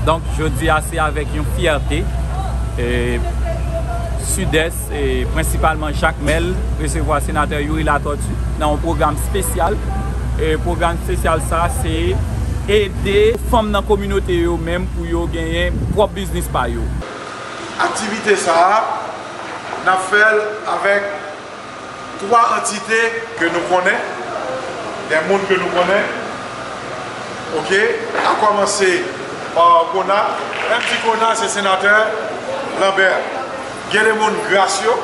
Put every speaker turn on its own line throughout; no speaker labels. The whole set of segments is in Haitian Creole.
Donk jodi a se avèk yon fyète Sidès e prensipalman Jakmèl resevwa Senatè Youri Latortue nan yon pwogram spesyal. Pwogram spesyal sa se ede fanm nan kominote yo menm pou yo genyen pwòp biznis pa yo. Aktivite
sa a, n ap fè l avèk 3 antite ke nou konnen, gen moun ke nou konnen, ok, a kòmanse pa Kona, lèm di Kona se Senatè Lambert, gen de moun Gracio,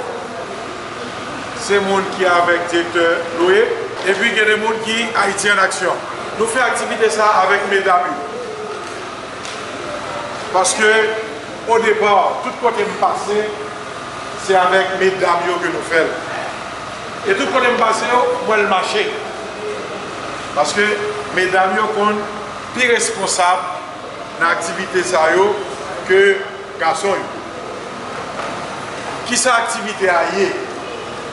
se moun ki avèk Direktè Loye, epi gen de moun ki Ayiti an Aksyon. Nou fè aktivite sa avèk medam yo, paske. Au départ, tout kote m pase se avèk medam yo ke nou fè l. E tout kote m pase yo, m wè l mache. Paske medam yo konn pi responsab nan aktivite sa yo ke gason yo. Kisa aktivite a ye?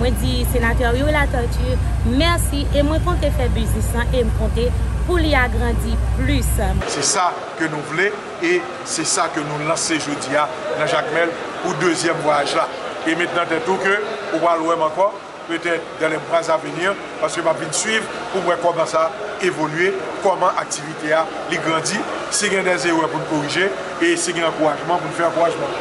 Mwen di Senatè Youri Latortue mèsi e mwen konte fè biznis lan e m konte pou li agrandi plis. Se sa
ke nou vle e se sa ke nou lanse jodi a nan Jakmèl pou dezyèm vwayaj la. E met nan tèt ou ke ou pral wè m ankò petèt dans les mois à venir paske m ap vin swiv pou m wè kòman sa evolye, kòman aktivite a li grandi, si gen dè zerè pou n korije e si gen ankourajman pou n fè ankourajman.